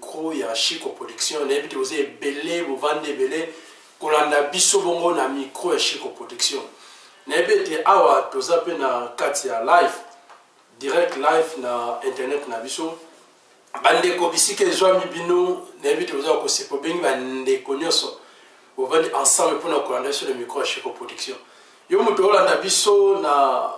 crew ya chico production nayebi te boza ebele bovandi ebele kolanda biso bongo na micro ya chico production nayebi ete awa toza mpe na kati ya live direct live na internet na biso bandeko bisika ezwami bino nayebi ete boza kosepa obengi bandeko nyonso bovandi ensemble mpo na kolanda biso na micro ya chico production yo moto olanda biso na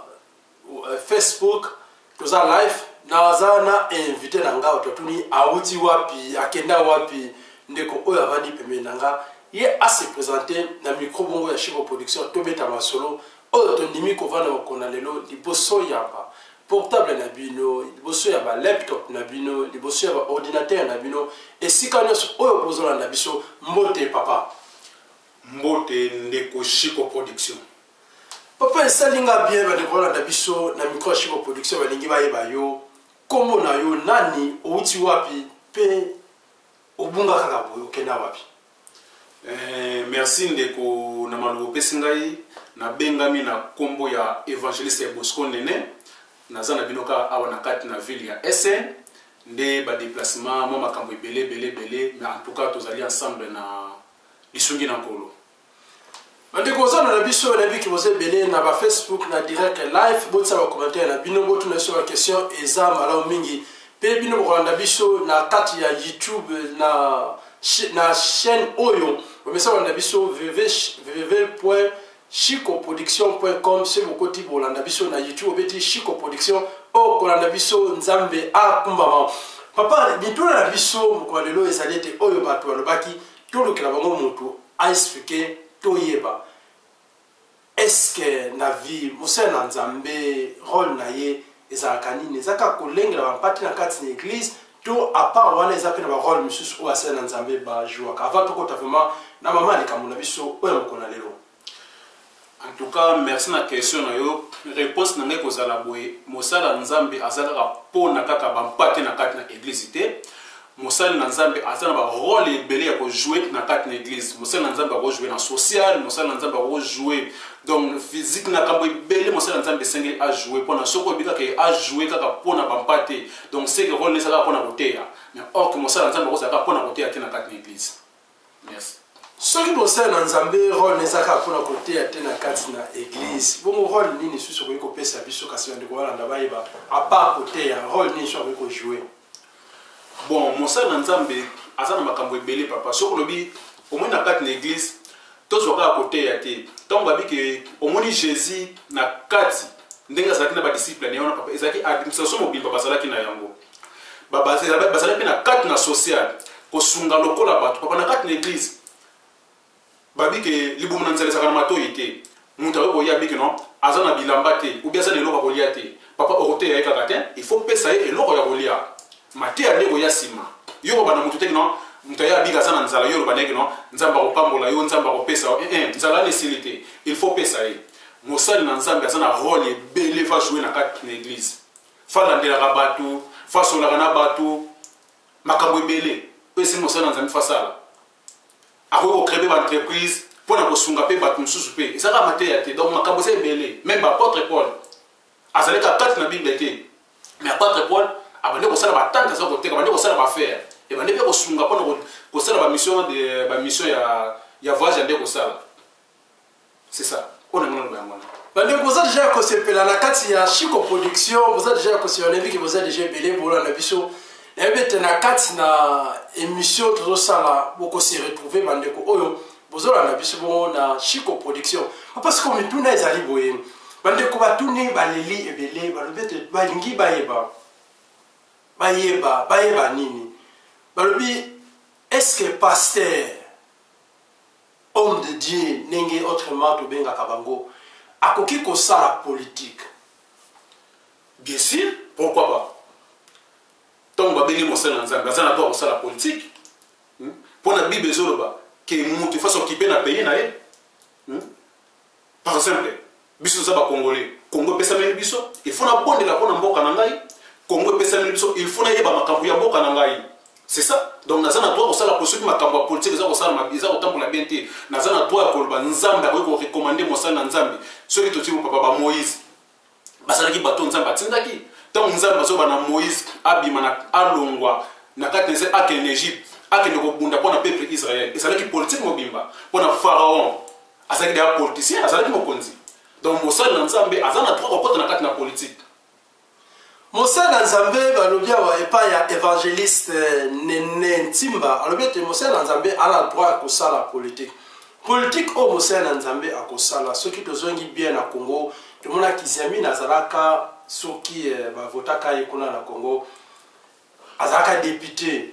euh, facebook toza live naza na invité na nga oto atuni awuti wapi akenda wapi ndeko oyo avandi pembeni na nga ye ase présente na micro bongo ya chico production tobeta masolo oyo tondimi kovanda mokona lelo liboso ya ba portable na bino liboso ya ba laptop na bino liboso ya ba ordinateur na bino esika nyonso oyo bozolanda biso mbote papa mbote ndeko chico production papa esali nga bien bandeko balanda biso na micro ya chico production balingi bayeba yo nkombo na yo nani outi wapi mpe obunga kaka boye okenda wapi eh, merci ndeko na maloba opesi ngai nabengami na nkombo ya evangeliste ya bosco nene naza na bino kaka awa na kati na ville ya sn nde badeplacement mwa makambo ebele ebele ebele mais en tout cas tozali ensemble na lisungi na nkolo bandeko ozana na biso nayebi ke boza ebele na bafacebook na direct live botisa bacommentaire na bino botuna biso baquestion eza malamu mingi mpe bino bokolanda biso na kati ya youtube na, na chaîne oyo bamesa kolanda biso www chicoproduction.com soki bokoti bolanda biso na youtube obeti chico production okolanda biso nzambe akumbama papa mituna na biso mokolo lelo ezali ete oyo bato balobaki tolukela bango mutu a expliquer toyeba eske na vie mosala na nzambe role na ye ezalaka nini eza kaka kolengela bampate na kati na eglise to apart wana eza mpe na barole mosusu oyo asala na nzambe bajouaka avant tokota vraiment na mama ya likambo na biso oyo ya mokolo na lelo En tout cas, merci na question na yo. Réponse na ngai kozala boye, mosala Nzambe aza kaka pona kaka ba mpate na kati na église te. Mosali na Nzambe aza na ba rôle ebele ya ko jouer na kati na église. Mosali na Nzambe ako jouer na social, mosali na Nzambe ako jouer donc physique na kambo ebele mosali na Nzambe esengeli a jouer pona soko oyebi kaka a jouer kaka pona ba mpate. Donc c'est que rôle ezalaka pona koteya. Mais or que mosali na Nzambe akozala kaka pona koteya te na kati na église. Merci. soki bosali na nzambe role na ezaka mpona koteya te na kati na eglize bongo role nini susu okoki kopesa biso kasi bandeko balanda bayeba apart koteya role nini susu akoki kojoue bon mosali na nzambe aza na makambo ebele papa soki olobi omoi na kati na eglize tozwa kaka koteya te ntango babi ke omoni jésus na kati ndenge azalaki na badisciple na ye wana papa ezalaki administration mobimba bazalaki na yango bazali mpe na kati na social kosunga lokola bato papa na kati na eglize babi ke libumu na nzela ezalaka na matoi te moto akoki koya abi ke non aza na bilamba te obi aza na eloko ya kolia te papa okoteya ye kaka te il faut pesa ye eloko ya kolia mateya nde koya nsima yo koloba na moto te ke non moto aye abika aza na nzala yo oloba na ye ke non nzambe akopambola yo nzambe akopesa yo eh, eh, nzala na esili te il faut pesa ye mosali na nzambe aza na role ebele va joue na kati na eglize fa alandelaka bato fa asolaka na bato makambo ebele oyo esi mosala na nzambe fa asala akoki kokrebe baentreprise mpo na kosunga mpe bato mosusu mpe ezalaka mateya te donc makambo eza ebele meme baapotre paul azalaki akati na bible te mais apotre paul abandi kosala batante aza koteka abandi kosala bafere ebandi mpe kosunga mpo na kosala bamission ya voyage ande kosala C'est ça. On a mon bande boza deja ya kosepela na kati ya chico production boza deja ya kosepela nayebi ke boza deja ebele bolanda biso nayebi ete na kati na émission tozosala bokose retrouve bandeko oyo bozolanda biso bongo na chico production parce que mituna ezali boye bandeko batuni baleli ebele balobi ete balingi bayeba bayeba bayeba nini balobi est ce que pasteur homme de Dieu ndenge autrement tobengaka bango akoki kosala politique bien sûr pourquoi pas ntango babengi mosali na nzambe aza na droit kosala politique mpo hmm? na bible ezoloba ke moto efasi okipe na pays na ye hmm? par exemple biso toza ba congolais congo epesameli biso il faut nabondela mpo na mboka na ngai congo epesameli biso il faut nayeba makambo ya mboka na ngai c'est ça donc naza na droit kosala po soki makambo ya politike eza kosalama eza kotambola bien te naza na droit ya koloba nzambe akoki korecommande mosali na nzambe soki totibo papa bamoïse bazalaki bato oyo nzambe atindaki ntango nzambe azoba na moïse abima na alongwa na kati na ese akende na egypte akende kobunda mpo na peuple israel ezalaki politike mobimba mpo na pharaon azalaki deya politicien azalaki mokonzi donc mosali na nzambe aza na droit kokota na kati na politike Mosali na Nzambe balobi awa epai ya evangeliste Nene Ntimba alobi ete mosali na Nzambe ana droit ya kosala politike. Politike oyo mosali na Nzambe akosala soki tozongi bien na Congo tomonaki Zemina azalaka soki eh, bavotaka ye kuna na Congo azalaka depute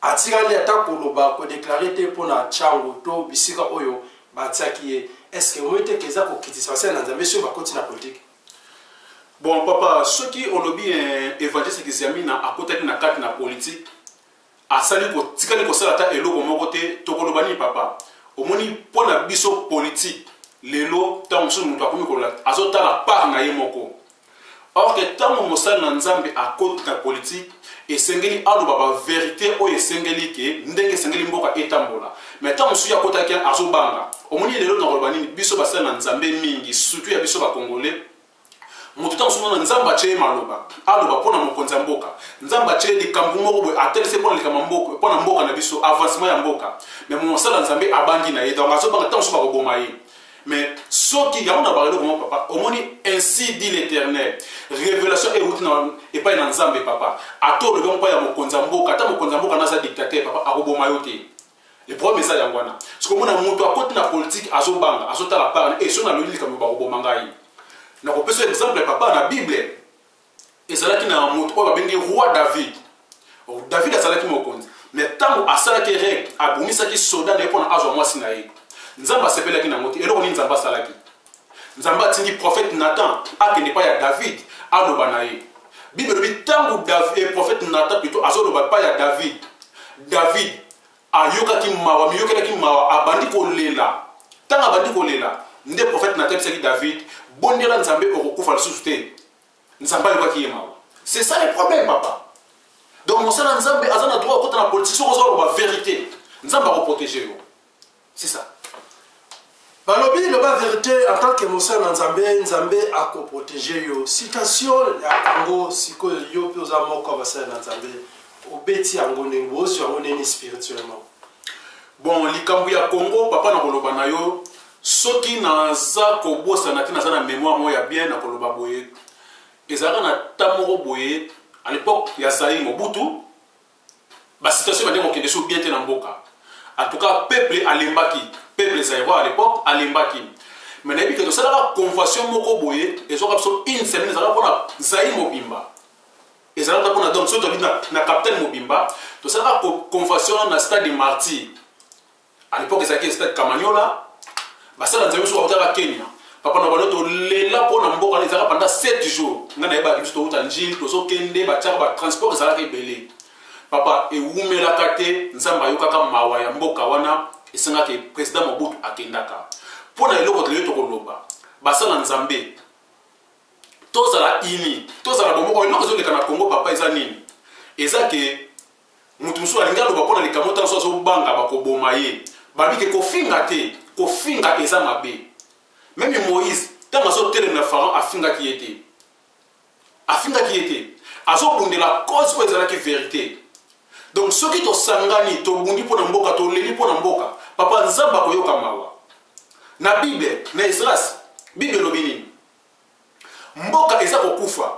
atikali ata koloba kodeklare te mpo na chango to bisika oyo batiaki ye eske omoi te ke eza kokitisa basali na Nzambe soki bakoti na politike bon papa soki olobi eh, evangeliste kiziamina akotaki na kati na politike asali kotikali kosala ata eloko moko te tokoloba nini papa omoni mpo na biso politike lelo ntango mosusu moto akomi kolola azotala part na ye moko or ke ntango mosali na nzambe akoti na politike esengeli aloba ba verite oyo esengeli ke ndenge esengeli mboka etambola mais ntango mosusu ya kotaki azobanga omoni ye lelo nakoloba nini biso basali na nzambe mingi surtout ya biso bakongole moto ntango mosusu mona nzambe atye ye maloba aloba mpo na mokonzi ya mboka nzambe atye likambo moko boye atelese mpo na likambo mboka mpo na mboka na biso avancement ya mboka mais mosala nzambe abangi na ye donc azobanga ntango mosusu bakoboma ye mais soki yango na balelo koma papa omoni ainsi dit l'éternel révélation euti epai na nzambe papa ata olobi yango epai ya mokonzi ya mboka ata mokonzi ya mboka naza dictateur papa akoboma yo te le problème eza yango wana sikomona moto akoti na politike azobanga azotala parne e eh, so nalobi likambo bakoboma ngai nakopesa exemple ya papa na bible ezalaki na moto oyo babengi roi david david azalaki mokonzi me ntango asalaki reg abomisaki soda na ye mpo na azwa mwasi na ye nzambe asepelaki na yango te eloko nini nzambe asalaki nzambe atindi profete nathan akende epai ya david aloba na ye bible elobi ntango eh, profete nathan pito azoloba epai ya david david ayokaki mawa miyokelaki mawa abandi kolela ntango abandi kolela nde profete nathan ayebisaki david bondela nzambe okokufa lisusu te nzambe alobaki ye mawa c'est ça le problème papa donc mosala nzambe aza na droit akota na politique soki oza oloba vérité nzambe akoprotege yo c'est ça balobi loba vérité en tant que mosala na nzambe nzambe akoprotege yo citation ya yango sikoyo yo mpe oza moko ya basala na nzambe obeti yango ndenge bozwi yango ndeni spirituellement bon likambo ya congo papa na koloba na yo soki naza kobosana te naza na memoire moko ya bien nakoloba boye ezalaka na ta moko boye à l'époque ya zaïre mobutu basituation ebandaki kokende so bien te na mboka en tout cas peuple alembaki peuple zaïrois à l'époque alembaki mais nayebi ke tosalaka convention moko boye ezwaka biso une semaine ezalaka mpona zaïre mobimba ezalaka mpona donc soki tobidi na capitaine mobimba tosalaka convention na stade martyr à l'époque ezalaki stade kamanyola basala nzambe biso bakotaka kenya papa na bango tolela mpo na mboka ezalaka panda 7 jours ngai nayebaki biso towuta njili tozokende batiaka batransport ezalaka ebele papa ewumelaka te nzambe ayokaka mawa ya mboka wana esengaka président mobutu akendaka mpo na eloko toleyo tokoloba basala nzambe tozala ini tozala bomoko eloko ezoleka na congo papa eza nini eza ke moto mosusu alingi aloba mpo na likambo ntango mosusu azobanga bakoboma ye babi te kofinga te kofinga eza mabe meme moïse ntango azotelemela farao afingaki ye te afingaki ye te azobundela cause oyo ezalaki verité donc soki tosangani tobundi mpo na mboka toleli mpo na mboka papa nzambe akoyoka mawa na bible na esras bible elobi nini mboka eza kokufa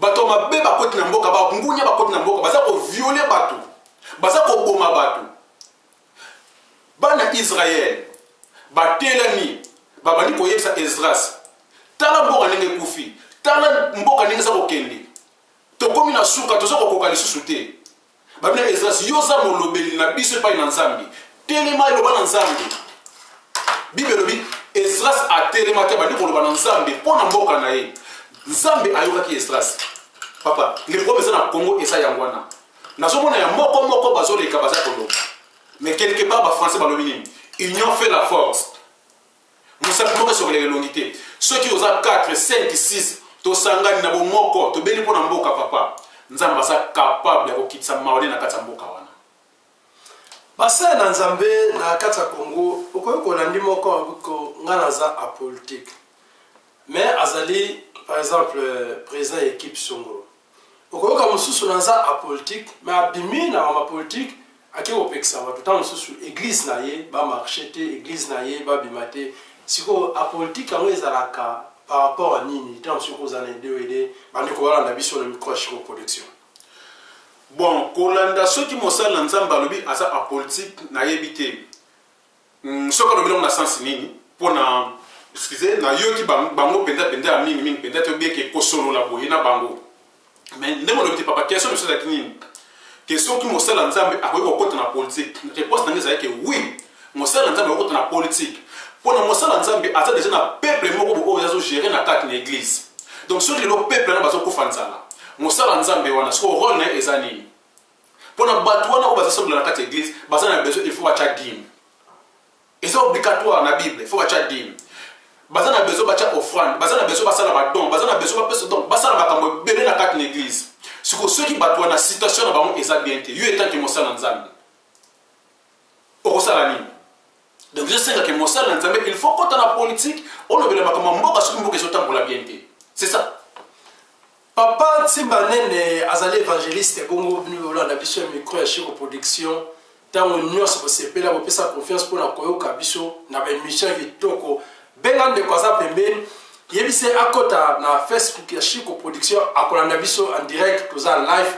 bato ya mabe bakoti na mboka bangunia bakoti na mboka baza koviole bato baza koboma bato bana israele batelami babandi koyebisa esdras tala mboka ndenge ekufi tala mboka ndenge eza kokende tokomi na suka toza kokoka lisusu te Babina Esdras, yo oza molobeli na biso epai na Nzambe. Telema eloba na Nzambe. Bible elobi Esdras atelemaki abandi koloba na Nzambe mpo na mboka na ye. Nzambe ayokaki Esdras. Papa, liloba eza na Congo eza yango wana. Nazomona ya moko moko bazoleka baza koloba. Mais quelque part ba français balobi nini? Union fait la force. mosala moko esokolaka elongi te soki oza 4 5 6 tosangani na bomoko tobeli mpo na mboka papa nzambe aza kapable ya kokitisa maole na kati ya mboka wana basala na nzambe na kati ya kongo okoki kolandi moko ngai naza apolitique mais azali par exemple président ya équipe songolo okoyoka mosusu naza apolitique me abimi na mama politique ake kopekisa bato ntango mosusu eglize na ye bamarche te eglize na ye babima te sikoyo apolitique yango ezalaka par rapport ya nini ntango mosusu okoza na ideo ede bandeko balanda biso na micro ya chico production bon kolanda soki mosali na nzambe alobi aza apolitique nayebi te Mm, soki alobi nango na sense nini mpo na excuse nayoki bango mpenza mpenza ya mingi mingi mpenza te obieke kosolola boye na bango mais ndenge olobi te papa question mosusu ezalaki nini ke soki mosala nzambe akoki kokota na politike réponse na ngai ezalaki ke oui mosala na nzambe akokota na politike mpo na mosala na nzambe aza deja na peuple moko bo oyo azogere na kati na église donc soki lelo peuple wana bazokufa nzala mosala na nzambe wana soko role na ye eza nini mpo na bato wana oyo bazosambela na kati ya eglise baza na besoin il faut batya dime eza obligatoire na bible il faut batya dime baza na besoin batya offrande baza na besoin basala badon baza na besoin bapesa donc basala makambo ebele na kati na eglise siko soki bato wana situation na bango eza bien te yo etanke mosala nzambe okosala nini donc ezosenga ke mosali na nzambe il faut kota na politike olobela makambo ya mboka soki mboka ezotambola bien te c'est ça papa nsimba nene azali évangéliste bongo bino bolanda biso ya micro ya chiro production ntango nyonso bosepela bopesa confiance mpo na koyoka biso na baémission kitoko benga ndeko aza pembeni yebisa ye akota na facebook ya chico production akolanda biso en direct toza live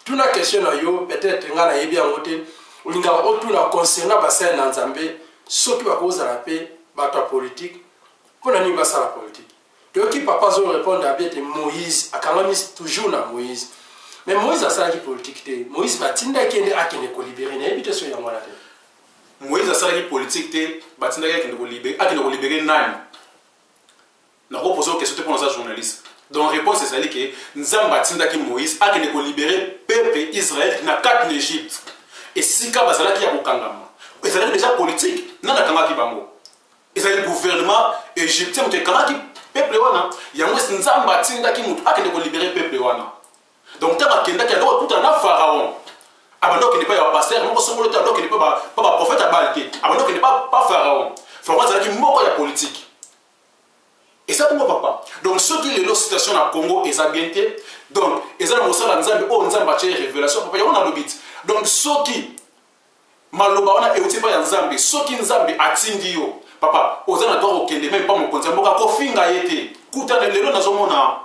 tuna question na yo peut-être ngai nayebi yango te olingaka otuna concernant basali na nzambe soki bakozala mpe bato ya politike mpo na nini basala politike toyoki papa azorepondre abi ete moïse akangami toujours na moïse mais moïse asalaki politike te moïse batindaki ye nde akende kolibere nayebi te soki yango wana te moïse asalaki politike te batindaki akende kolibere akende kolibere nani nakoposa okestion te mpo naza journaliste donc réponse ezali ke nzambe atindaki moïse akende kolibere peuple israel na kati na egypte esika bazalaki ya kokangama ezalaki deja politike nani akangaki bango ezali gouvernement égyptien moto ekangaki peuple wana yango nzambe atindaki moto akende kolibere peuple wana donc ntango akendaki ando kokutana na pharaon abanda okende epai ya bapaster moko songolo te ando okende mpe baprofete ya bale te abanda okende pa pharaon pharaon azalaki moko ya politike eza bongo papa donc soki lelo situation na congo eza bien te donc eza na mosala ya nzambe oyo nzambe atye révélation papa yango nalobi ti donc soki maloba wana euti epai ya nzambe soki nzambe atindi yo papa oza na droit kokende meme mpa mokonzi ya mboka kofinga ye te kuta lelo nazomona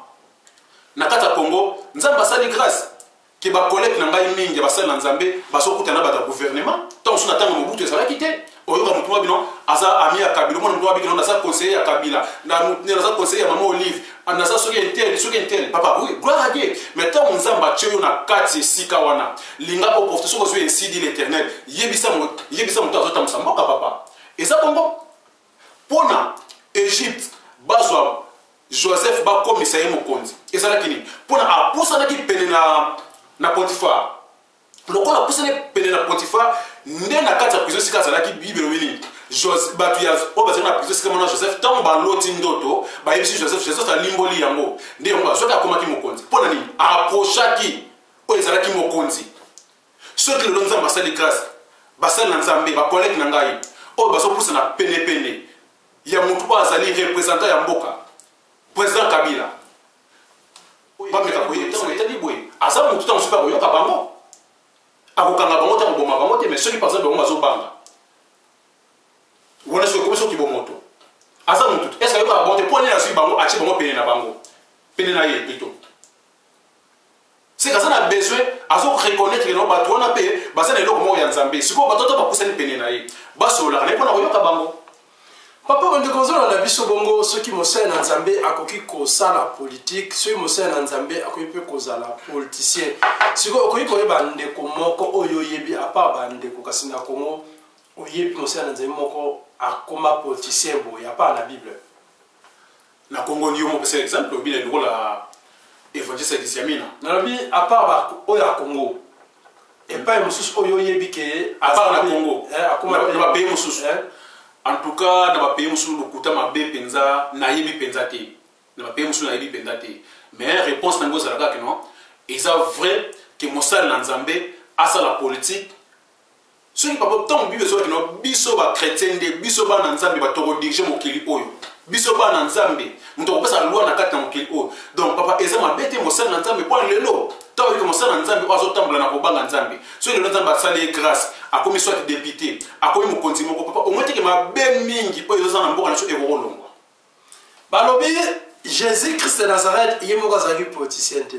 na kati ya congo nzambe asali grâce ke bakolege na ngai mingi ya basali na nzambe bazokuta na bato ya gouvernement ntango mosusu na ntango mobutu ezalaki te oyoka motu mwa bino aza ami ya kabila omona motu mwa bino naza conseiller ya kabila naza conseiller ya mama olive Ah, naza soki intel soki intel papa oui gloire à dieu mais ntango nzambe atye yo na kati esika wana linga oprofite soki ozwi esidi l'éternel yebisa moto azotambwisa mboka papa eza bongo mpo na egypte bazwa joseph bakomisa ye mokonzi ezalaki nini mpo na apusanaki pene na, na potifar lokola apusani pene na potifar nde na kati ya prizo esika azalaki bible elobi nini bato ya oyo bazali na prizo esika mona joseph ntango baloti ndoto bayebisi joseph joseph alimboli yango nde yango azwaki akomaki mokonzi mpo na nini aprochaki oyo ezalaki mokonzi soki lelo nzambe asali grâce basali na nzambe bakolege na ngai oyo bazopusana penepene ya motu oyo azali représentant ya mboka président kabila bameka koyebisa etali boye aza motu ntango soki akoyoka bango akokanga bango te akoboma bango te mais soki par exemple bango bazobanga wana soki ekomi soki bomoto aza motu te eske ayokaka bango te mpo nini azwi bango atie bango pene na bango pene na ye plutôt seke aza na besoin azo reconnaitre no bato wana mpe baza na eloko moko ya nzambe sikoyo bato ata bapusani pene na ye basololaka na ye mpo na koyoka bango papa bandeko ozoloba na biso bongo soki mosali na nzambe akoki kosala politike soki mosali na nzambe akoki mpe kozala politicien sikoyo okoki koyeba ndeko moko oyo oyebi apa bandeko kasi na kongo oyebi mosali na nzambe moko akoma politicien boye apa na bible na congo yo moko pesa exemple olobi na lokola évangile sadisi ya mina nalobi apart oyo ya congo epai mosusu oyo oyebi ke apart na congo eh, na bapays mosusu eh? en tout cas na bapays mosusu lokuta mabe mpenza nayebi mpenza te na bapays mosusu nayebi mpenza te mais réponse nango ezalaka kino eza vrai ke mosali na nzambe asala politike soki papa ntango bible ezwaki no biso bakretien nde biso bana nzambe bato tokodirige mokili oyo biso bana nzambe moto akopesa lwa na kati na mokili oyo donc papa eza mabe te mosali na nzambe mpo lelo ntango oyike mosali na nzambe oyo azotambola na kobanga nzambe soki lelo nzambe asali ye grâce akomi soit depute akomi mokonzi moko papa omoteke mabe mingi oyo ezoza na mboka na biso ekokolongwa balobi jésus christ de nazareth ye moko azalaki politicien te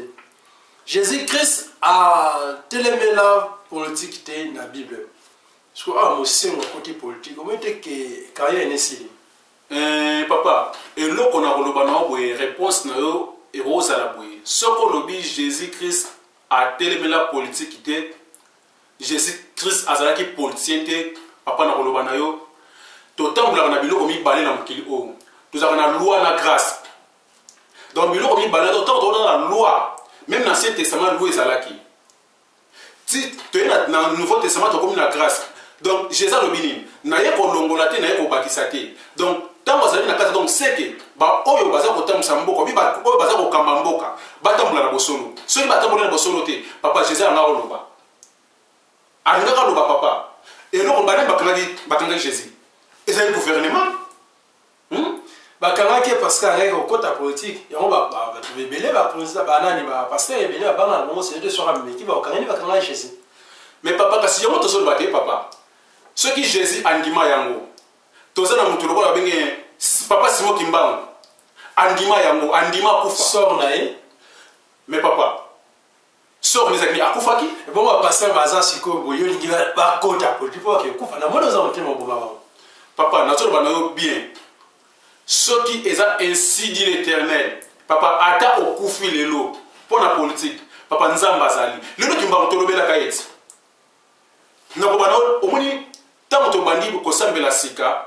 jésus christ atelemela politike te na bible soki awa mosengo akoti politike omoi te ke carrière ene esili eh, papa eloko na koloba na yo boye réponse na yo ekozala boye soki olobi jésus christ atelemela politike te jesus christ azalaki politicien te papa na koloba na yo totambolaka na biloko mibale na mokili oyo tozalaka na loi na grâce donc biloko mibale to ntango tokotaka na loi meme na ancien testament loi ezalaki ti toye na nouveau testament tokomi na grâce donc jesus alobi nini naye kolongola te naye kobakisa te donc ntango azali na kati donc seke baoyo baza kotambwisa mboka bi oyo baza kokamba mboka batambola na bosolo soki batamboli na bosolo te papa jesus alingaka oloba alingaka aloba papa eloko bani bakangaki bakangaki jesus ezali gouvernement hmm? bakangaki parce que ayaki kokota politike yango bato ebele bapolisi banani bapaster ebele babanga na bango sete soki ameki bakangani bakangaki jesus mais papa kasi yango tozoloba te papa soki jesus andima yango toza na moto lokola babenge papa simo kimbangu andima yango andima akufa sor na ye mais papa sor na ezalaki akufaki bongo bapasteur baza sikoyo boye olingi bakota politi mpo bakekufa na moni oza motema oboma bango papa nazoloba na yo bien soki eza ainsi dit l'éternel papa ata okufi lelo mpo na politike papa nzambe azali lelo kimbangu tolobelaka ete nakoba na omoni Tango tobandi kosambela sika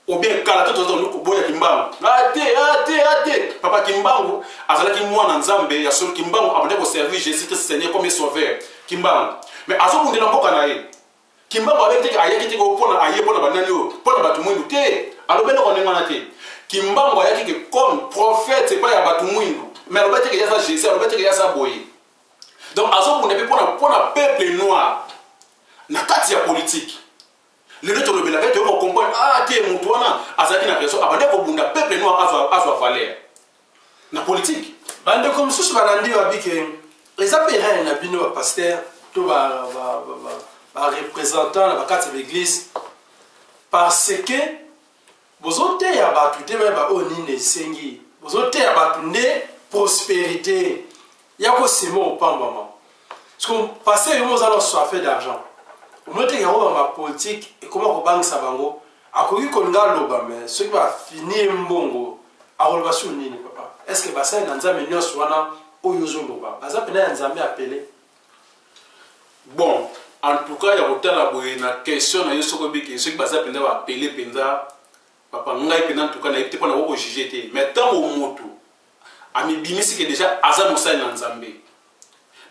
ou bien kala to tozo luku boya kimbangu ate ah, ate ah, ate ah, papa kimbangu azalaki mwana nzambe ya solo kimbangu abandaki koservir jésus christ seigneur comme sauveur kimbangu mais azobundela mboka na ye kimbangu abeki teke ayaki teke mpona aye mpona banani oyo mpona bato mwindu te alobi eloko ndenge wana te kimbangu ayaki ke comme prophète epai ya bato mwindu mais alobi teke yaza jésus alobi teke yaza boye donc azobunda mpe mpona peuple noir na kati ya politiki lelo tolobelaka ete oyo comprendre ah te motu wana azalaki na raison abandi kobunda peuple noir azwa valeur na politiki bandeko mosusu balandi babike eza mpe erreur na bino bapaster to barepresentant na bakati ya baeglise parce que Bozoteya bato te bayeba oyo nini esengi. Bozoteya bato nde prosperite ya kosema opambama. Siko pase yo moza na soife d'argent. Omoteke yango ba politique ekoma kobangisa bango. Akoki kolinga aloba me soki bafini ye mbongo akoloba sur nini papa? Est-ce que basali na Nzambe nyonso wana oyo ozoloba baza mpena ya Nzambe apele? bon en tout cas ya kotala boye na question na yo soki obiki soki baza mpenza bapele mpenza papa ngai mpenza ntuka nayebi te mpo na kokojuge te mais ntango motu amibimisi ke déjà aza mosali na nzambe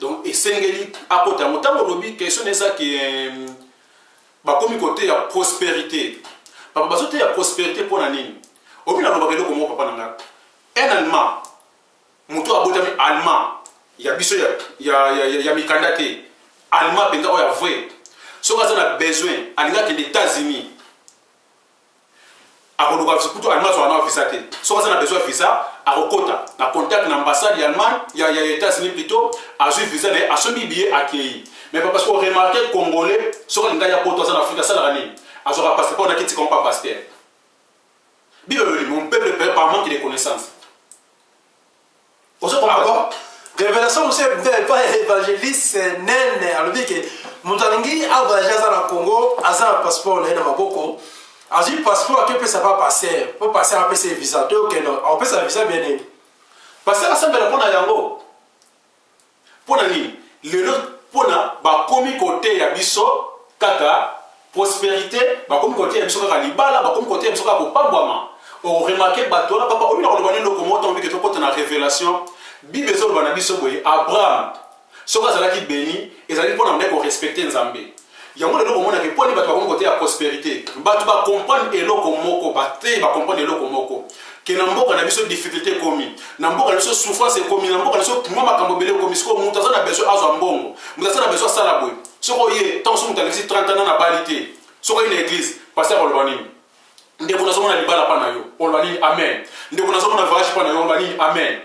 donc esengeli akota yango ntango olobi question na eza ke euh, bakomi koteya prospérité papa bazoteya prospérité mpo na nini obi nalobaka eloko moko papa na ngai un allemand moto abotami allemand ya biso ya, ya, ya, ya, ya mikanda te allemand mpenza oyo ya vrai soki aza na besoin alingi akende états-unis akoluka kutu allemand azwaka na visa te soki aza na besoin ya visa akokota na contact na ambassade ya allemagne ya, ya états-unis plutôt azwi visa na ye asombi biye akei mais parce que oremarke congolais soki alinga ya poto aza na afrika asalaka nini azwaka passeport na kiti kama pa pastere Bible elobi mon peuple pere par manque de connaissance. Ozo comprendre? Ah Révélation mosusu epa évangéliste nene alobi ke moto alingi avoyage aza na Congo aza na passeport na ye na maboko azwi passeport ake opesa pa passer po passer apesa visa to okenda akopesa visa bien nini passer asambela mpo na yango mpo na nini lelo mpo na bakomi koteya biso kaka prosperité bakomi koteya biso kaka libala bakomi koteya biso kaka kopambwama oremake bato wana papa omi na koloba nini lokomo ntango bike tokota na révélation bible ezoloba na biso boye abraham soki azalaki beni ezali mpo na nde korespecte nzambe yango lelo komona ke poni bato bakomi koteya prosperité bato bacomprendre eloko moko bateyi bacomprendre eloko moko ke na mboka na biso difficulté ekomi na mboka na biso souffrance ekomi na mboka na biso mwa makambo ebele ekomi sikoyo moto aza na besoin azwa mbongo moto aza na besoin asala boye soki oye ntango so moto alekisi 30 ans na bali te soki oye na église paster akoloba nini ndeko nazomona libala mpa na yo oloba nini amen ndeko nazomona voyage mpa na yo oloba nini amen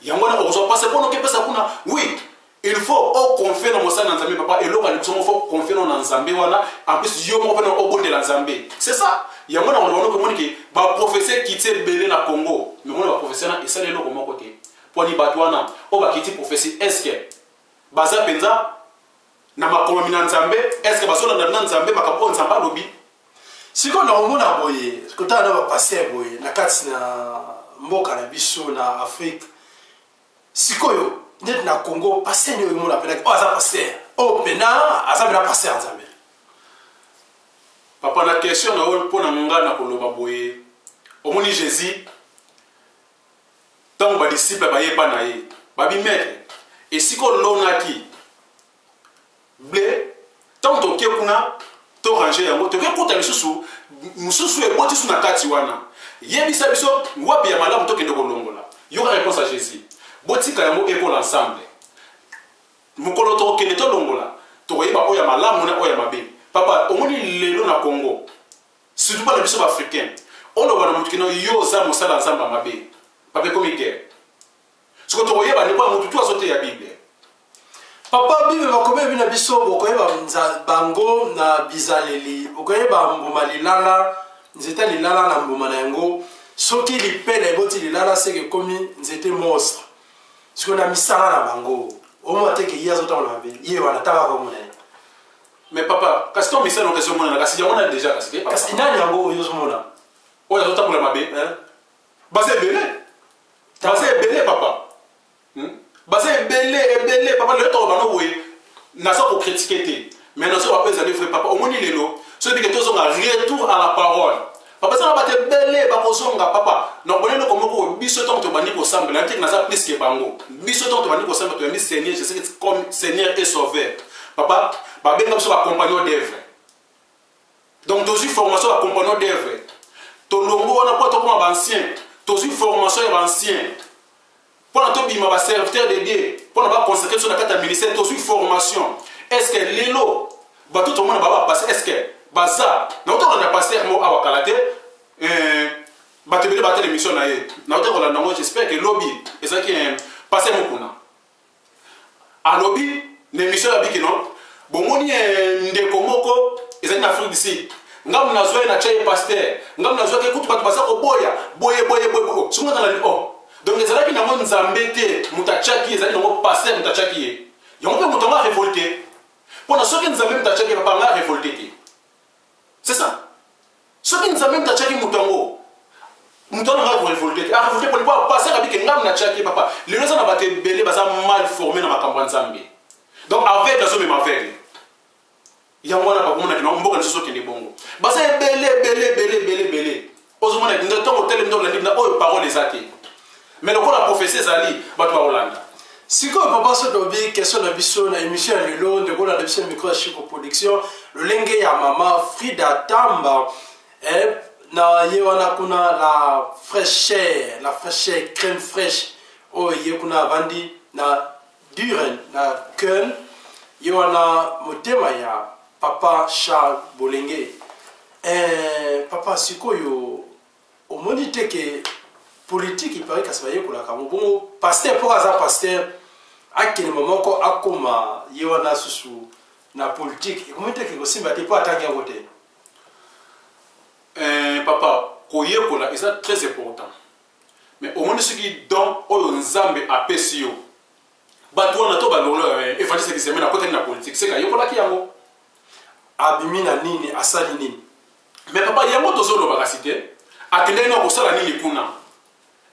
yango wana okozwa mpasi mpo nokepesa kuna wi il faut o confie na mosali na nzambe papa eloko ya liboso moko faut confie na nzambe wana en plus yo moko mpena obondela nzambe c'est ça yango na koloba noko omoni ke baprofese kiti ebele na congo mais omoni baprofese wana esali eloko moko te mponi bato wana oyo bakiti profesi estce baza mpenza na makomomi na nzambe estce bazolanda na nzambe makambo oyo nzambe alobi sikoyo nakomona boye kotala na bapaster boye na kati na mboka na biso na afrike sikoyo neti na congo paster nde oyemona mpenaki oyo oh, aza paster oyo oh, mpena aza mpena paster ya nzambe papa na question na oyo mpo na ngai na koloba boye omoni jésus ntango badisiple baye epa na ye babi maître esika olonaki ble ntango toke kuna to range yango toke kuta lisusu mosusu eboti su na kati wana yebisa biso wapi ya malamu tokende kolongola yoka réponse ya jésus botika yango ekola ensemble mokolo tokokende tolongola tokoyeba oyo ya malamu na oyo ya mabe papa omoni lelo na congo surtout bana biso baafricain oloba na moto kino yo oza mosala nzambe ya mabe papa ekomi guerre soko tokoyeba nde mpo motu tu azoteya bible papa bible bakomeli bino biso bokoyeba bango na bizaleli okoyeba mbuma lilala nzete lilala na mbuma na yango soki lipele eboti lilala seke ekomi nzete monstre sikoyo na misala na bango omona te ke ye azotambola mabe ye wana tanga komona ye mais papa kasi to misala okesi omonana kasi yango nani deja kasi kasi nani yango oyo ozomona oyo azotambola mabe baza ebele baza ebele papa hmm? baza ebele ebele papa lelo toko bano boye naza kokritike te mais nazoba mpe ezali vrai papa omoni lelo soki ndenge tozonga retour à la parole papa ezanga bato ebele bakozonga papa na boni eloko moko biso ntango tobandi kosambela yanteke naza plus ke bango biso ntango tobandi kosambela toyambi seigneur jésus comme seigneur et sauveur papa babenga biso bacompagnon d'œuvre donc tozwi formation ya compagnon d'œuvre tolongo wana mpo tokoma baancien tozwi formation ya baancien mpo na tobima baserviteur de dieu mpo na baconsacre biso na kati ya ministère tozwi formation est ce que lelo bato tomona baba passe est ce que baza nauta kolanda paster moko awa kala te eh, bato ebele batala émission na ye nauta kolanda yango j'espère ke lobi ezalaki eh, paster mokuna alobi na emission ya biki non bomoni eh, ndeko moko ezali na afrique du sud ngambo nazwa ye na tya ye paster ngambo nazwaki kutu bato baza koboya boye boye boye oh, soki nazalali o oh. donc ezalaki nango nzambe te moto atyaki ezali nango paster moto atyaki ye yango mpe moto yango arevolte mpo na soki nzambe moto atyaki ye bapanga arevolte te c'est ça soki nzambe moto atyaki moto yango moto wana ngai korevolte te arevolte pone mpo apasaka bike ngambo natyaki papa lelo eza na bato ebele baza mal forme na makambo ya nzambe donc aveugle azomema aveugle yango wana bakomonaki nango mboka lisusu okende bongo baza ebele ebele ebele ebele ebele ozomona ntango otele ntango olandi na oyo parole eza te mais lokola prophetie ezali bato bakolanda sikoyo papa so tobi question na biso na émission ya lelo ndeko olanda biso micro ya chico production lolenge ya mama frida tamba eh, na ye wana kuna la fraîcheur la fraîcheur crème fraîche oyo oh, ye kuna avandi na duren na köln ye wana motema ya papa charles bolenge eh, papa sikoyo Omoni te ke politique il paraît kasi bayekolaka yango bongo pasteur mpo aza pasteur akende momoko akoma ye wana susu na politique ekomi te ekosimba te mpo atangi yango te eh, papa koyekola eza très important mais omoni soki don oyo nzambe apesi yo bato wana to balongolo eh, evangeliste examen akotaki na politique seka ayekolaki yango abimi na nini asali nini mais papa yango tozoloba kasi te akendaki na kosala nini kuna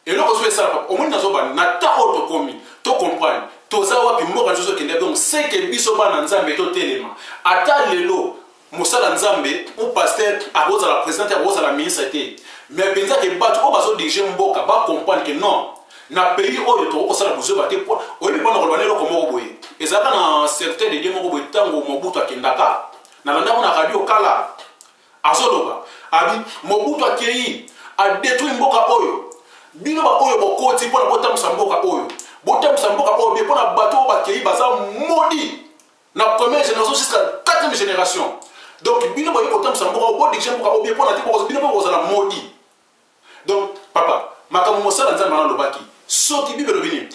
eloko so esala papa omoni nazobana na temps oyo tokomi tocomprendre toza wapi mboka nyonso tokendaki donc seke biso bana nzambe totelema ata lelo mosala nzambe ou paster akozala président te akozala ministre te mais mpenza ke bato oyo bazodirige mboka bacomprendre ke non na pays oyo tokoki kosala bozoba te mpo oyebi mpona koloba na eloko moko boye ezalaka na serviteur de dieu moko boye ntango mobutu akendaka nalandako na radio kala azoloba abi mobutu akei adetruire mboka oyo bino baoyo bokoti mpo na botambusa mboka oyo botambusa mboka oyo bie mpo na bato oyo bakei baza modi na première génération jusqu'à quatrième génération donc bino boyei kotambusa mboka oyo bodirige mboka oyo bie mpo na te bino mpe bokozala modi donc papa makambo mosala nzambe wana alobaki soki bible elobi nini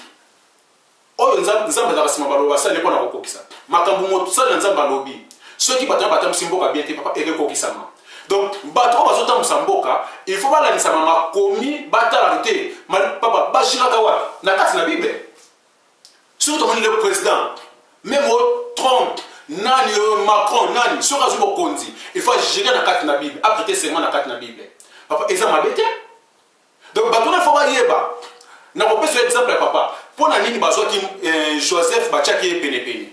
oyo nzambe nzambe azalaka nsima baloba asali mpo na kokokisa makambo mosali na nzambe alobi soki bato na batambwisi mboka bien te papa ekekokisama donc bato oyo bazotambwisa mboka il faut balandisama makomi batalaka te papa bajiraka wapi na kati na bible soki tomoni le président meme o trump nani oyo macron nani soki azwi bokonzi il faut ajire na kati na bible aprete serment na kati na bible papa eza mabe te donc bato na fo bayeba na kopesa yo exemple ya papa mpo na nini bazwaki eh, joseph batiaki ye penepene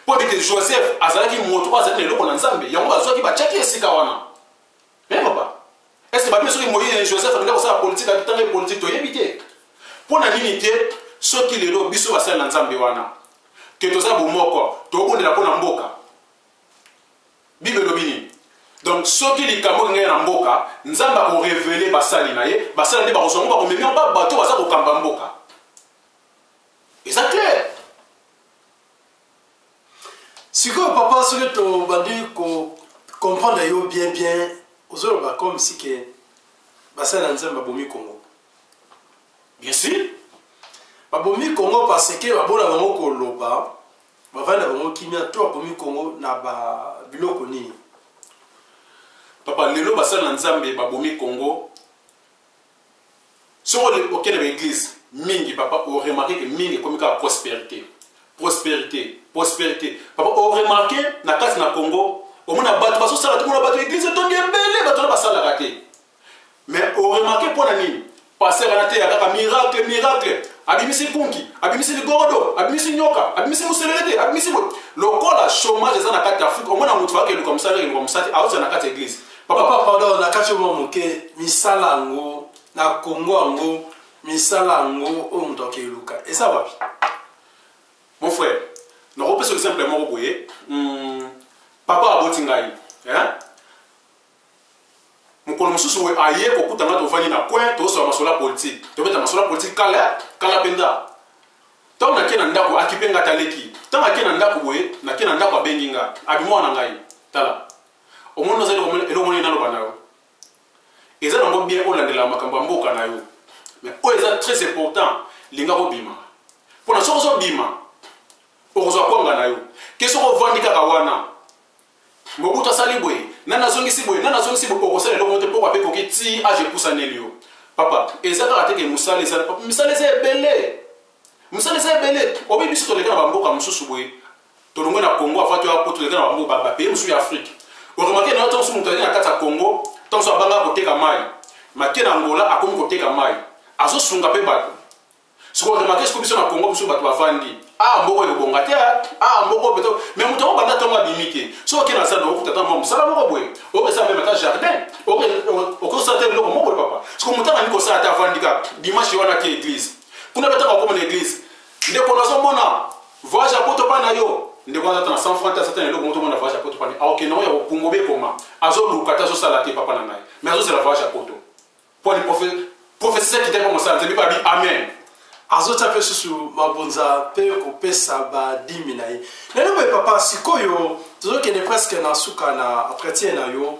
mpo ndeke joseph azalaki moto oyo azalaki na eloko na nzambe yango bazwaki batiaki esika wana e papa estce babi soki moïse eh, joseph alinga kosala politike akitanga ye politike toyebi te mpo na nini te soki lelo biso basali na nzambe wana ke toza bomoko tokobondela mpo na mboka bible elobi nini donc soki likambo olingai na mboka nzambe akorevele basali na ye basali nde bakozwa ngo bakomemi yango babato baza kokamba mboka eza claire sikoyo papa soki tobandi kocomprendre yo bien bien ozoloba comme si ke basali na nzambe babomi kongo bien sûr babomi kongo parce ke babona bango koloba bavandi na bango kimia to babomi kongo na ba biloko nini papa lelo basali na nzambe babomi kongo soko okende baeglise mingi papa oremarke ke mingi ekomi kaka prospérité prospérité prospérité papa oremarke na kati na congo omona bato bazosala tomona bato eglise etondi ebele bato wana basalaka te mais oremake mpo na nini paster wana teya kaka miracle miracle abimisi kunki abimisi ligorodo abimisi nyoka abimisi moselelete abimisi boye lokola chômage eza na kati ya afrika omona moto faka eluka mosala eluka mosati aoza na kati ya eglise papa pardon na kati oyo moke misala yango na kongo yango misala yango oyo moto akeluka eza wapi mon frère nakopesa exemple moko boye hmm, papa aboti ngai mokolo mosusu boye aye kokuta nga tovandi na coin tosola masolo ya politike tobeta masolo ya politike kala kala mpenza ntango nake na ndako akipe nga taleki ntango ake na ndako boye nake na ndako abengi nga abimwa na ngai tala omoni oza eloko moni naloba na yo eza nango bien olandela makambo ya mboka na yo mais oyo eza très important linga kobima mpona soki ozobima okozwa kwanga na yo ke soki ovandi kaka wana Mobutu asali boye, nani azongisi boye, nani azongisi boye, okosala eloko te poko ape koki ti age epusaneli yo. Papa, eza kaka te ke musala eza, misala eza ebele. Misala eza ebele. Obi biso toleka na bamboka mosusu boye, tolongwe na Congo avant to ya poto toleka na bamboka ba pays mosusu ya Afrique. Oremake na yo ntango mosusu moto azali na kati ya Congo, ntango mosusu abanga koteka mai. Make na Angola akomi koteka mai. Azosunga mpe bato. siko remake siko biso na congo biso bato bavandi ah mboko ekobonga te ah mboko peto me moto yango banda ntongo abimi te soki okende na zando okuta ata mwa mosala moko boye okesa meme ata jardin okosala te eloko moko papa siko moto angani kosala ata avandi kaka dimanche wana te eglise kuna betanga okoma na eglise ndeko nazomona voyage ya poto mpa na yo ndeko wana ata na 100 franc te asata na eloko moko tomona voyage ya poto mpa azokende yango ya kopungo bekoma azoluka te azosala te papa na ngai me azozela voyage ya poto mpo ni profesi ya kitaki mpo mosala nzambe babi amen azotya mpe susu mabonza mpe kopesa badimi na ye lelo boye papa sikoyo tozokende preske na suka na entretien na yo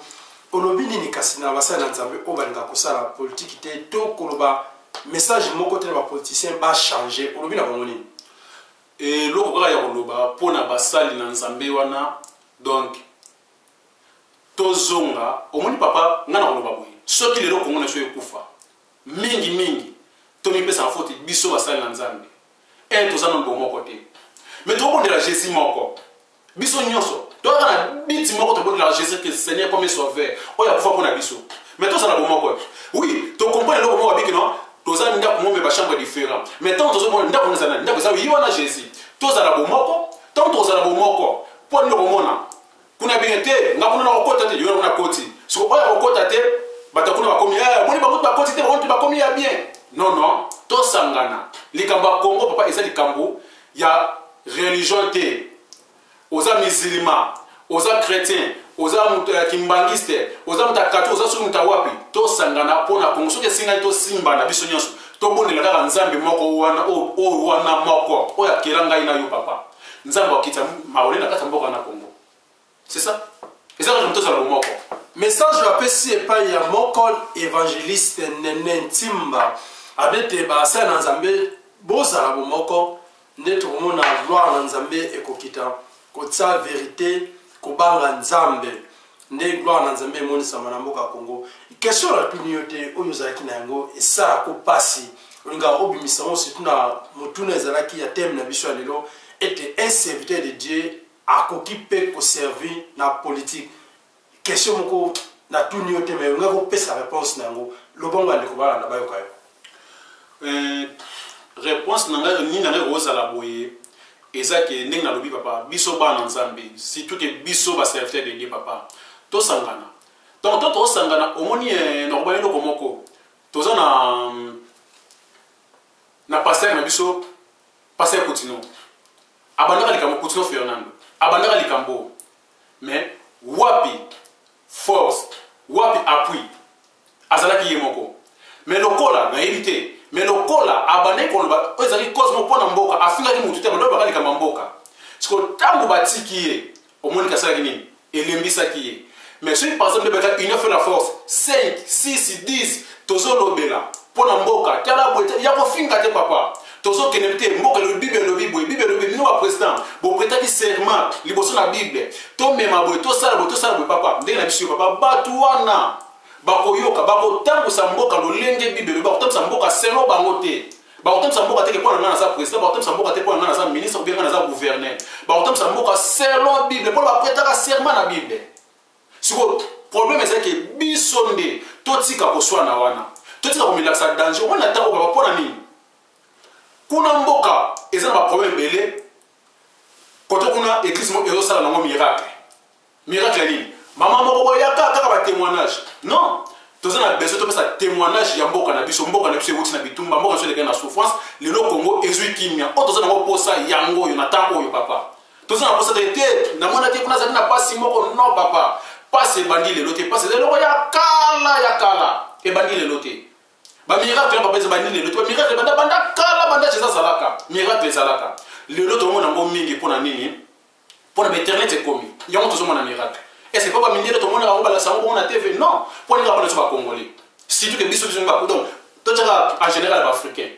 olobi nini kasi na basali na nzambe oyo balinga kosala politiki te to koloba message moko te na bapoliticien bachange olobi na bango nini eloko kaka ya koloba mpo na basali na nzambe wana donc tozonga omoni papa ngai nakoloba boye soki lelo kongo na biso ekufa mingi mingi tomipesaka foti biso basali na nzambe e toza na mbo moko te me tokobondela jésus moko biso nyonso toyaka na biti moko tobondela jésus christ seigneur comme sauveur oyo akufa mpo na biso me tozala bomoko te oui tokomprene eloko moko abiki no toza ndako moko me bachambre différent mais ntango tozomona ndako eza nani ndako eza ye wana jésus tozala bomoko ntango tozala bomoko mpo nini okomona kuna bino te nga kuna nakokota te yona kuna koti soko oyo akokota te bato kuna bakomi eh, boni bango bakoti te bango bakomi ya bien non non tosangana likambo ya congo papa eza likambo ya religion te oza musulma oza chrétien oza moto ya kimbangiste oza moto ya kati oza soki moto ya wapi tosangana mpo na kongo soki esingani tosimbana biso nyonso tobondela kaka nzambe moko wana oyo wana moko oyo akela ngai na yo papa nzambe akitisa maole na kati ya mboka na congo c'est ça eza kaka tozala bomoko message oyo apesi epai ya moko évangéliste nene ntimba abete basala na nzambe bozala bomoko nde tokomona gloire na nzambe ekokita kotya verite kobanga nzambe nde gloire na nzambe emonisama na mboka congo question natuni yo te oyo ozalaki na yango esala ko mpasi olingaka obimisa yango surtout na motuna ezalaki ya teme na biso ya lelo ete un serviteur de dieu akoki mpe koservir na politike question moko natuni yo te mai olingaki kopesa réponse na yango lobango ya ndeko balanda bayoka yo Euh, réponse na ngai nini na ngai kozala boye eza ke ndenge nalobi papa biso bana nzambe surtout ke biso baserviteur de dieu papa tosangana donc to tosangana omoni eh, nakobana eloko moko toza na na pasteur na biso pasteur kotino abandaka likambo kotino fernando abandaka likambo mais wapi force wapi appui azalaki ye moko me lokola nayebi te me lokola abandaki koloba oyo ezalaki cosmo mpo na mboka afingaki motu te balobi baka likambo ya mboka siko ntango batiki ye omoniki asalaki nini elembisaki ye mais soki par exemple ebeka union fait la force 5 6 10 tozolobela mpo na mboka tala boye te ya kofinga te papa tozokende te mboka elobi bible elobi boye bible elobi bino baprésident bopretaki serment liboso na bible tomema boye tosala boye tosala boye papa ndenge na biso yo papa bato wana bakoyoka bakotambwisa mboka lolenge bible elobi bakotambwisa mboka selo bango te bakotambwisa mboka te ke mpo na ngai naza président bakotambwisa mboka te mpo na ngai naza ministre obe ngai naza gouverneur bakotambwisa mboka selo bible mpo na bapretaka serment na bible sikoyo problème eza ke biso nde totika koswana wana totika komilakisa danger omoni na ntango kaka mpo na nini kuna mboka eza na baproblème ebele koto kuna église moko ezosala nango miracle miracle ya nini mama moko boyaka kaka batémoignage non toza na besoin topesa témoignage ya mboka na biso mboka na biso ewuti na bitumba mboka na biso elekaki na souffrance lelo congo ezwi kimia oyo toza nango mposa yango oyo na ntango oyo papa toza na posa te te namonaki kuna azali na pasi moko non papa pasi ebandi lelo te pasi eza eloko ya kala ya kala ebandi lelo te bamiracle papa ezabandi lelo te bamiracle ebanda banda kala banda ceza azalaka miracle ezalaka lelo tomona yango mingi mpo na nini mpo na bainternet ekomi yango tozomona miracle ese mpo bamindele tomona bango balakisa yango bongo na tv non mpo ndenge bapona biso bacongolais surtout ke biso biso donc totyaka en général baafricain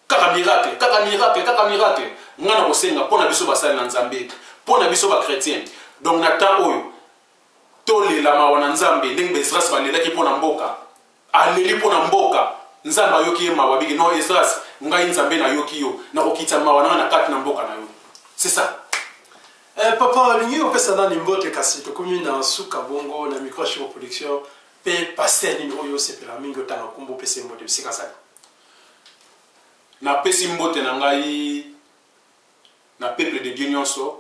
Kaka miracle, kaka miracle, kaka miracle. Nga na kosenga pona biso basali na Nzambe, pona biso ba chrétiens. Donc na temps oyo tolela mawa na Nzambe ndenge Esdras balelaki pona mboka. Aleli pona mboka. Nzambe ayoki ye mawa biki non Esdras, ngai Nzambe nayoki yo, nakokitisa mawa na na kati na mboka na yo. C'est ça. Eh, papa olingi kopesa nani mbote kasi tokomi na nsuka bongo na micro ya shiro production mpe paster nini oyo osepela mingi otanga nkombo opesa ye mbote bisika azali napesi mbote na ngai na peuple de dieu nyonso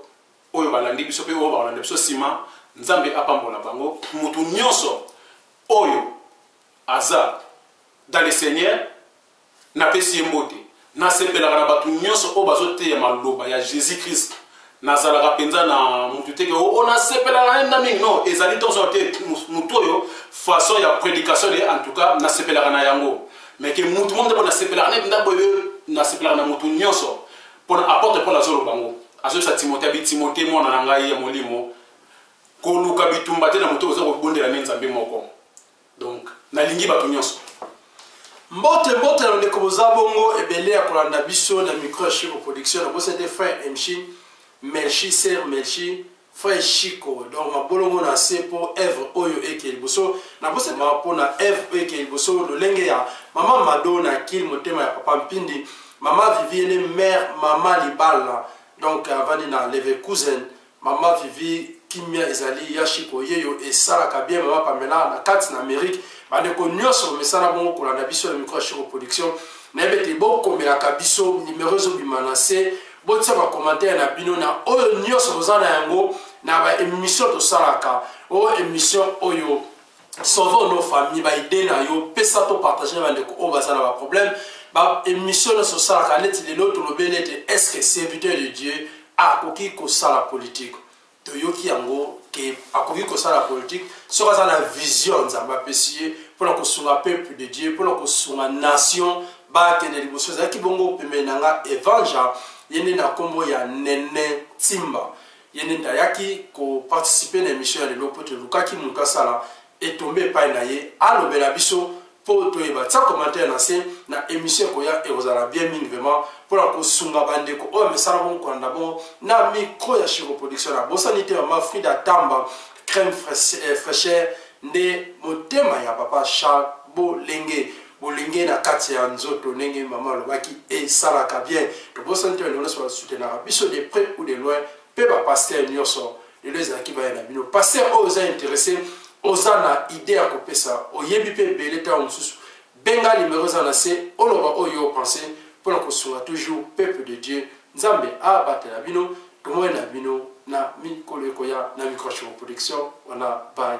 oyo balandi biso mpe oyo bakolanda biso nsima nzambe apambola bango motu nyonso oyo aza dans le seigneur napesi ye mbote nasepelaka na bato nyonso oyo bazoteya maloba ya jésus christ nazalaka mpenza na motu te ke o oh, nasepelaka na yenda mingi non ezali tonso te motu oyo façon ya prédication de en tout cas nasepelaka na yango mais ke motu mo nde mpo nasepelaka na yenda boye nasepelaka na motu nyonso mpona apotre paul azoloba yango azoyebisa timote abi timote mwana na ngai ya molimo koluka bitumba te na moto oza kobondela nde nzambe moko donc nalingi bato nyonso mbote mbote na bandeko boza bongo ebele ya kolanda biso na micro ya chico production na bosa te frère emchi melchi ser melchi frère chico donc mabolongo na se mpo evre oyo eke liboso na bosa mpo na evre oyo eke liboso lolenge ya mama mado na kil motema ya papa mpindi mama viviene mare mama libala donc avandi na leve cousin Maman Vivi kimia ezali ya shiko yeyo esalaka bien maman Pamela na kati na Amerique bandeko nyonso mesana bongo kolanda biso na micro ya shiko production nayebi ete bokomelaka biso nimero ezobima na se botia bakomantere na bino na oyo nyonso boza na yango na baémission tosalaka o émission oyo sauve nos famille ba idée na yo pesa to partage na bandeko oyo baza na ba problème ba émission nyonso osalaka neti lelo tolobeli ete est ce que serviteur de dieu akoki kosala politike toyoki yango ke akoki kosala politike soki aza na vision nzambe apesi ye mpo na kosunga peuple de dieu mpo na kosunga nation bakende liboso ezalaki bongo pembeni na nga evangel ye nde na nkombo ya nene timba ye nde nde ayaki ko participer na emission ya lelo mpo tolukaki moto asala etombe epai na ye alobela biso mpo toyeba tia commentaire na se na emission ekoya ekozala bien mingi vraiment mpo na kosunga bandeko oyo amesana bongo kolanda bongo na micro ya chiro production na bosani te mama frida tamba crème fraîcheur nde motema ya papa charles bolenge bolenge na kati ya nzoto ndenge mama alobaki esalaka bien tobosani te bandeko nyonso basutenaka biso de près ou de loin mpe bapaster nyonso lelo ezalaki baya na bino paster oyo oza interesse oza na idée ya kopesa oyebi mpe ebele ntango mosusu benga limero eza na se oloba oyo opense mpo na kosunga toujours peuple de dieu nzambe abatela bino tomoi na bino na mikolo ekoya na microchiro production wana baye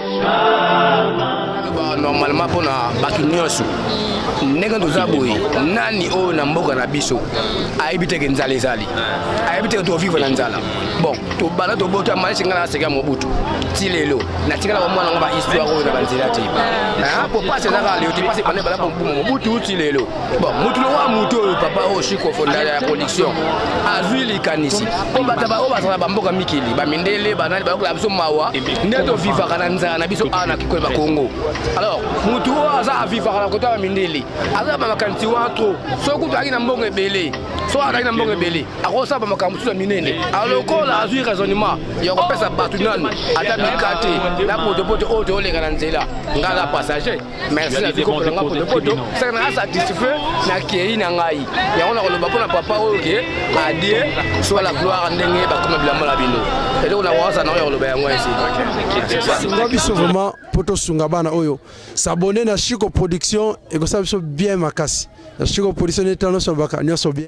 normalement mpo na bato nyonso ndenge toza boye nani oyo na mboka na biso ayebi teke nzala ezali ayebi teke tovivre na nzala bon tobanda tobota malesi ngai naseka mobutu ti lelo natikala bamwana yango bahistoire oyo na banzela te mpo pasi ezaka leo te pasi banda ebanda mobutu ti lelo bon motu lokola motu oyo papa oyo chiko fondala ya connexion azwi likanisi mpo bato baoyo bazala bamboka mikili bamindele banani bayokola biso mawa nde tovivaka na nzala na biso awa na kikoli bakongo alors motu oyo aza avivaka na kota ya bamindele aza bamakanisi wana tro soki kutu azalaki na mbongo ebele soki azalaki na mbongo ebele akosala bamakambo mosusu ya minene alokola azwi raisonnement ya kopesa bato nanu ata mikate na potopoto oyo tooleka na nzela ngai na passager merci na bikoko na ngai potopoto saka nanga satisfait na kei na ngai yango nakoloba mpo na papa oyo ke adie soit la gloire ndenge bakoma bilamba na bino eloko na waza nango ya koloba yango esinga biso vraiment mpo tosunga bana oyo sabone na chico production ekosala biso bien makasi na chico production neti nyonso alobaka nyonso bien